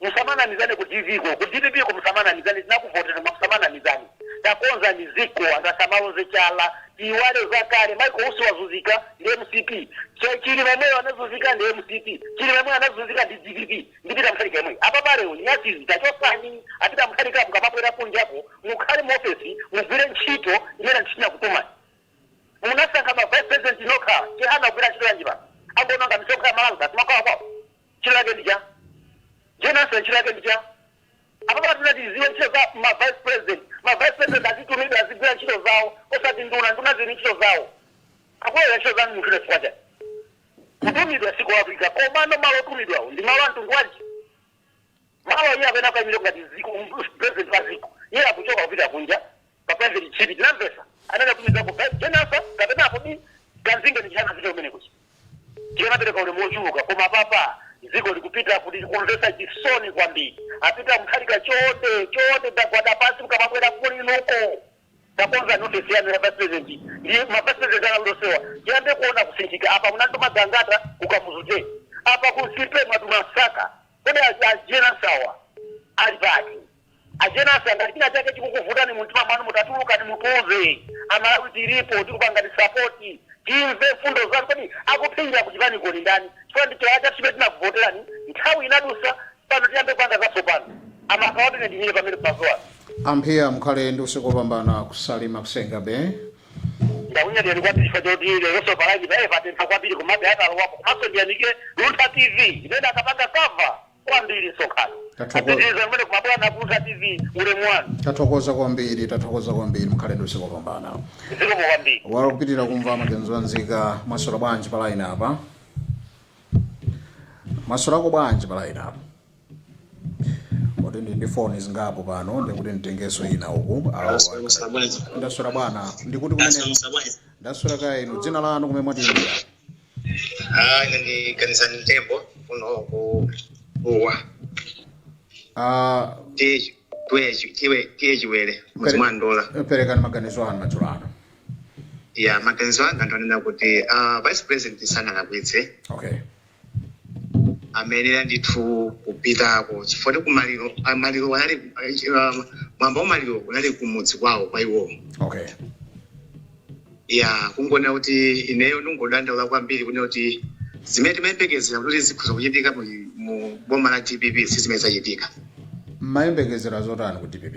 Musamanamizane ku dpp ko, ku dpp ko musamanamizane, tinakuvoterani koma musamanamizane. Takonzani dziko anthu asamaloze chala, tiyiwale zakale. Michael Usi wazuzika ndi mcp, Chilima yemweyo anazuzika ndi mcp, Chilima yemweyo anazuzika ndi dpp ndi Peter Mutharika yemweyo. Apapa lero nyansi izi tachosani a Peter Mutharika mukamabwera kunjako mukhale mu ofesi mugwire ntchito imene anthu tinakutumani. Munasankha ma vice president nokha, Chihana akugwira ntchito yanji pano? Angononga misonkho ya Malawi basi mwakwawakwawa. ntchito yake ndi chani jane ansah ntchito yake ndi chani apapa tikufuna tiziwe ntchito za ma vice president ma vice president azitumidwa azigwira ntchito zawo osati nduna nduna zili ndi ntchito zawo akugwira ntchito za munthu chifukwa chani kutumidwa sikulakwika komano malo otumidwawo ndi malo amtundu wanji malo iye amene akayimire ngati ziko president wa ziko iye akuchoka kupita kunja pa private trip tinamvesa anawatumizako a jane ansah kapena kodi kanzinge ndi chani apita kumene kuja ndiye anapereka ulemu wochuluka koma apapa dziko likupita kuti likumvesa chisoni kwambiri a peter mutharika chonde chonde ndagwada pansi mkamabwera kuli inuko takonzani ofesi yanu ya vice president ndi ma vice president anu onsewa tiyambe kuona kusinthika apa munantuma gangata ku kamuzu day apa ku nsipe mwatuma msaka kodi a jane ansah wa ali pati A Jane Ansah ngati china chake chikukuvutani mumtima mwanu mutatulukani mutiuze. A Malawi tilipo tikupangani support. Timve mfundo zanu. Kodi akupinga ku chipaniko ndi ndani? Chifukwa ndi chifukwa chake chimene tinakuvoterani. Nthawi inadusa pano tiyambe kupanga zatsopano. A Makawa ine ndimire pamenepo mazulo ano. A Mphiya mukhale ndi usiku wopambana ku Salima ku Senga Bay. Ndakunyadirani kwambiri chifukwa choti leronso pa line paye patentha kwambiri komabe atalowapo. Komanso ndiyamikire Luntha TV imene akapanga cover. kwambiri msonkhano Tathokoza. apitiriza kumene kumabwana Luntha tv ulemu wanu tathokoza kwambiri tathokoza kwambiri mukhale ndi usiku wabwino zikomo kwambiri Wakupitirira kumva maganizo a nzika maswera bwanji pa line apa maswera ako bwanji pa line apa kuti ndi ndi foni zingapo pano ndikuti nditengeso ina uku Alo, ndaswera bwana ndikuti kumene ndaswera kaye inu dzina lanu kumene mwatiimbira Ah, ndine kanizani mtembo kuno ku Dowa Ah, tiye chi- tiye chi- tiye- tiye chiwere mudzi mwa ndola perekani maganizo anu madzulo ano ya maganizo anga ndi onena kuti ah, vice president sanalakwitse okay amayenera ndithu kupitako chifukwa ndi kumaliro ah, maliro anali ah, mwamba wa maliro unali kumudzi kwawo kwa iwowo okay ya kungonena kuti ineyo ndingodandaula kwambiri kunena kuti zimene timayembekezera kuti zikhoza kuchitika mu, mu boma la dpp si zimene zachitika mumayembekezera zotani ku dpp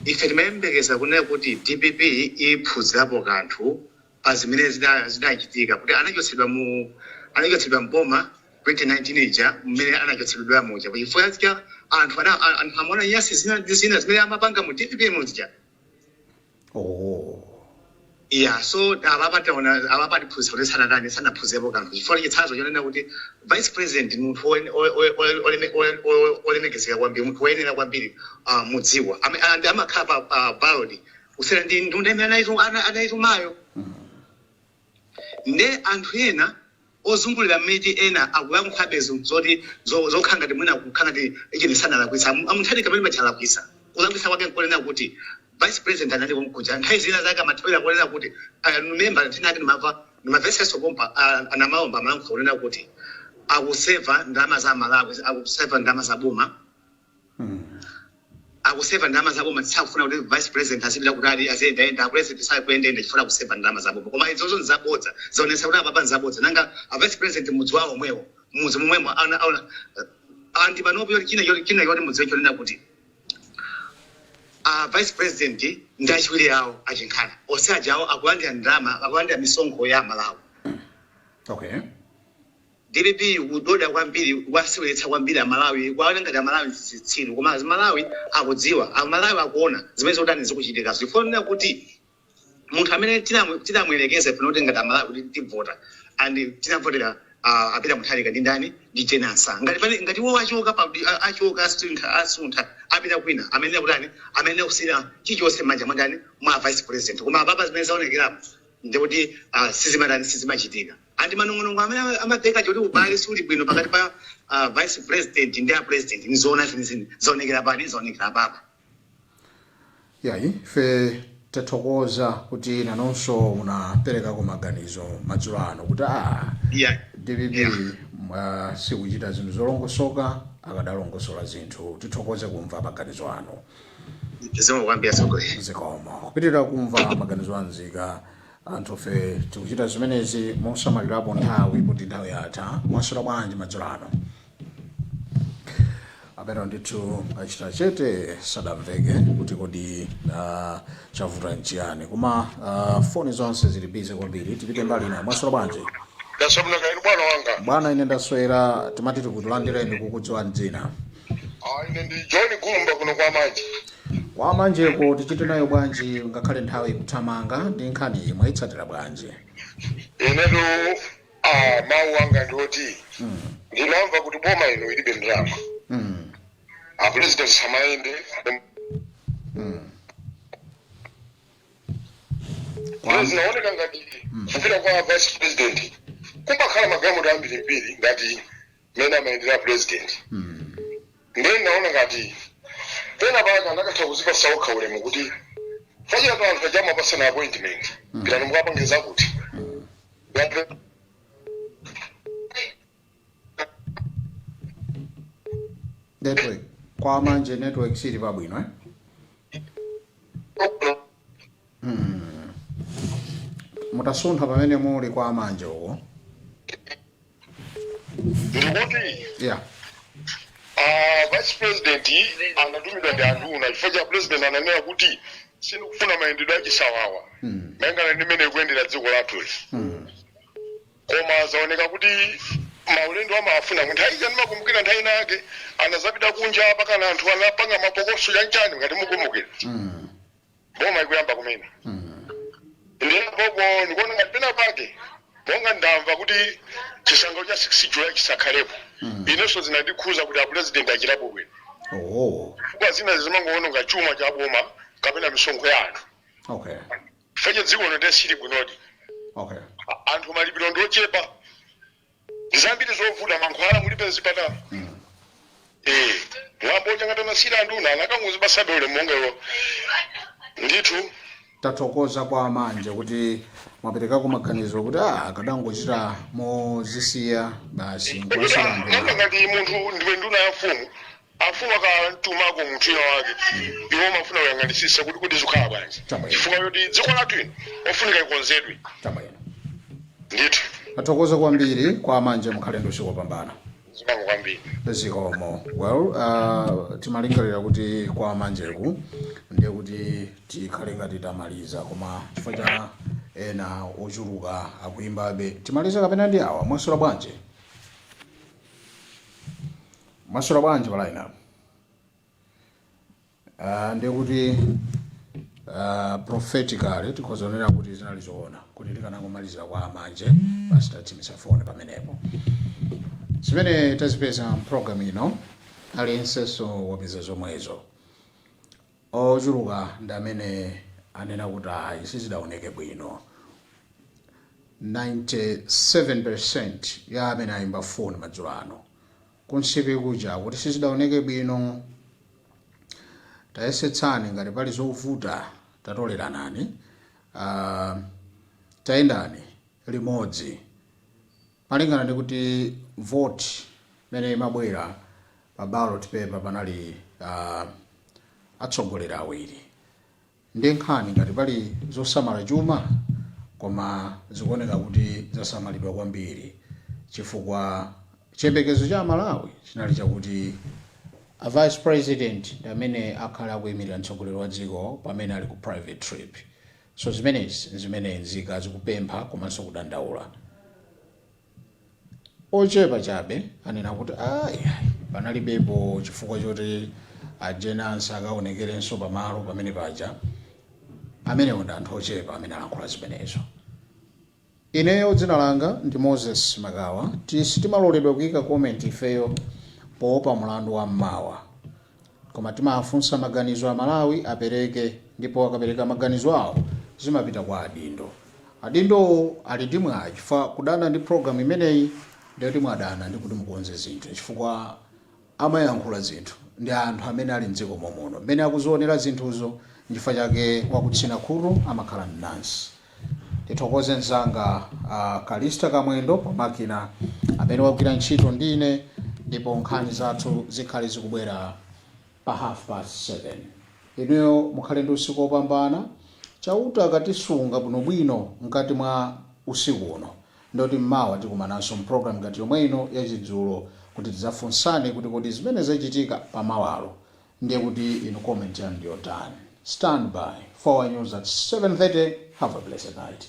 ife timayembekeza kunena kuti dpp iphunzirapo kanthu pa zimene zida- zidachitika kuti anachotsedwa mu anachotsedwa mboma 2019 ija mmene anachotsedwa muja chifukwa cha anthu ana- a- anthu amaona nyasi zina ndi zina zimene amapanga mu dpp muja oh. ya so apapa taona apapa atiphunzitsa kuti sanatani sanaphunzirepo kanthu chifukwa chitsanzo chonena kuti vice president munthu oen- o- o- o- oleme- o- o- olemekezeka kwambiri munthu woyenera kwambiri ah, mu dziko Ame- ah, ndi amakhala pa ah, ballot kusiyana ndi nduna imene anaitu- ana- anaitumayo nde anthu ena ozungulira mmene ena akuyankhuabe zinthu zoti zo zokhala ngati mwina kukhala ngati ujeni sanalakwitse am a Mutharika pamene paja alakwitsa kulakwitsa kwake nkonena kuti vice president anali konkuja nthawi zina zake amathawira ponena kuti I remember nthawi inayake ndimava ndimamvetseso pompa a a Namaomba amalankhula kunena kuti akuseva ndalama za a Malawi akuseva ndalama za boma akuseva ndalama zaboma sakufuna kuti vice president azipita kutali aziyendayenda apulezidenti sakuyendayenda chifukwa akuseva ndalama zaboma koma izozo nzabodza zaonetsa kuti apapa nzabodza nanga a vice president mudzi wawo omwewo mudzi momwemo ana- ana- and panopo yoti china choti china choti mudziwe chonena kuti a vice president ndi achiwiri awo a Chihana onse ajawo akulandira ndalama akulandira misonkho ya malawi okay Dpp ikudoda kwambiri ikuwaseweretsa kwambiri amalawi ikuwaona ngati amalawi ndi zitsiru koma amalawi akudziwa amalawi akuona zimene zikutani zikuchitikazo chifukwa chonena kuti munthu amene tinamu- tinamuyerekeza ifeyo kuti ngati amalawi kuti tivota and tinavotera uh, a Peter mutharika ndi ndani ndi Jane Ansah ngati pane ngati iwo achoka pa a- achoka asintha asuntha apita kwina ayenera kutani ayenera kusiyira chilichonse mmanja mwandani mwa vice president koma apapa zimene zaonekerapo ndikuti uh, sizimatani sizimachitika Ati manong'onong'o amene amamveka kuti ubale suli bwino pakati pa a vice president ndi a president ndi zoona zenizeni. Zaonekera pati? Zaonekera apapa. Iyayi, ife tathokoza kuti nanunso munaperekako maganizo madzulo ano kuti a Yeah. dpp Yeah. mwa sikuchita zinthu zolongosoka akadalongosola zinthu tithokoze kumva maganizo anu Zikomo kwambiri atsogoleri. zikomo kupitirira kumva maganizo a nzika Anthufe tikuchita zimenezi mosamalirapo nthawi poti nthawi yatha. Mwaswera bwanji madzulo ano? Amenewo ndithu achita chete sadamveke kuti kodi ah, chavuta nchiyani koma ah, foni zonse zili bize kwambiri tipite mbali ina mwaswera bwanji Ndaswera bwino kaya inu bwana wanga. bwana ine ndaswera timati tikulandireni kukudziwa dzina Ah, ine ndi john gumba kuno kwa manje kwa manjeko tichite nayo bwanji ngakhale nthawi ikuthamanga ndi nkhani iyi mwayitsatira bwanji inetu ah, mawu anga ndi oti ndinamva kuti boma ino ilibe ndalama mm. apulezidenti asamayende Kwa- zinaoneka ngati kupita kwa vice president kumakhala magalimoto ambirimbiri ngati mmene amayendera president ndiye ndinaona ngati pena pake anakatha kuzipasa okha ulemu kuti fachira pa anthu aja amapasana appointment pitani mukapange zakuti Ngati- network kwa manje network sili pabwino eh? mutasuntha pamene muli kwa manje uko ndikuti yeah ah, vice president anatumidwa ndi anduna chifukwa cha president ananena kuti sindikufuna mayendedwe achisawawa Mm. malingana ndi mmene ikuyendera dziko lathu Mm. koma zaoneka kuti maulendo amafuna nthawi ija ndimakumbukira nthawi ina yake anazapita kunja mpakana anthu anapanga mapokoso chanchani ngati mukumbukira Mm. boma ikuyamba kumene ndiye pompo ndikuona ngati pena pake monga ndamva kuti chisangalalo cha 6 july chisakhalepo inenso zinandikhuza kuti apulezidenti achitapo bwino oh chifukwa zina zimangoononga chuma cha boma kapena misonkho ya anthu okay fenye dziko lino nde sili bwinodi okay anthu malipiro ndiochepa zambiri zovuta mankhwala mulibe mzipatala eh mwambo uja ngati amasiyira anduna anakangozipasabe ulemu okhawo ndithu tathokoza kwa manje kuti mwaperekako maganizo kuti ah, akadangochita mozisiya basi nkumasiyira nduna nanga ngati munthu ndiwe nduna ya mfumu afumu akantumako munthu ina wake iwo amafuna kuyang'anisisa kuti kuti zikhala bwanji Chabwino. chifukwa choti dziko lathu lino ofunika ikonzedwe chabwino ndithu tathokoza kwambiri kwa Manje mukhale ndi usiku wopambana zikomo kwambiri zikomo well uh, timalingalira kuti kwa a Manjeku ndiye kuti tikhale ngati tamaliza koma chifukwa cha ena ochuluka akuimbabe timalize kapena ndi awa mwaswera bwanji Mwaswera bwanji pa line apo? Ah, ndiye kuti ah, prophetically tikhoza kuonera kuti zinali zoona kuti tikanangomalizira kwa a Manje basi tathimitsa foni pamenepo. Zimene tazipeza mpulogalamu ino aliyensenso wapeza zomwezo. Ochuluka ndi amene anena kuti ayi sizidaoneke bwino. 97 percent ya amene aimba foni madzulo ano ku Nsipe kuja kuti sizidaoneke bwino. Tayesetsani ngati pali zovuta tatoleranani, aah tayendani limodzi. Malingana ndi kuti vote imene imabwera pa ballot paper panali uh, atsogoleri awiri ndi nkhani ngati pali zosamala chuma koma zikuoneka kuti zasamalidwa kwambiri chifukwa chiyembekezo cha Malawi chinali chakuti a vice president ndi amene akhale akuyimirira mtsogoleri wa dziko pamene ali ku private trip So zimenezi nzimene nzika zikupempha komanso kudandaula. Ochepa chabe anena kuti ah iyayi panalibepo chifukwa choti a Jane Ansah akaonekerenso pamalo pamene paja. Amenewo ndi anthu ochepa amene alankhula zimenezo. Ineyo dzina langa ndi Moses Makawa sitimaloledwa kuika comment ifeyo poopa mulandu wa mmawa koma timafunsa maganizo Amalawi apereke ndipo akapereka maganizo awo zimapita kwa adindo. Adindowo ali ndi mwayi chifukwa kudana ndi program imeneyi ndiye kuti mwadana ndikuti mukonze zinthu chifukwa amwayankhula zinthu ndi anthu amene ali m'dziko momuno, mmene akuzionera zinthuzo, nchifukwa chake wakutsina khutu amakhala mnansi. Ndithokoze mnzanga a Callista Kamwendo pa makina, amene wagwira ntchito ndi ine, ndipo nkhani zathu zikhale zikubwera pa half past 7. Inuyo mukhale ndi usiku wopambana, Chauta akatisunga bwinobwino mkati mwa usiku uno. Ndiye kuti mmawa tikumananso m'program ngati yomwe ino ya chidzulo kuti tidzafunsane kuti kodi zimene zachitika pa mawalo ndiye kuti inu comment yanu ndi yotani. Stand by for our news at 7:30. Have a blessed night.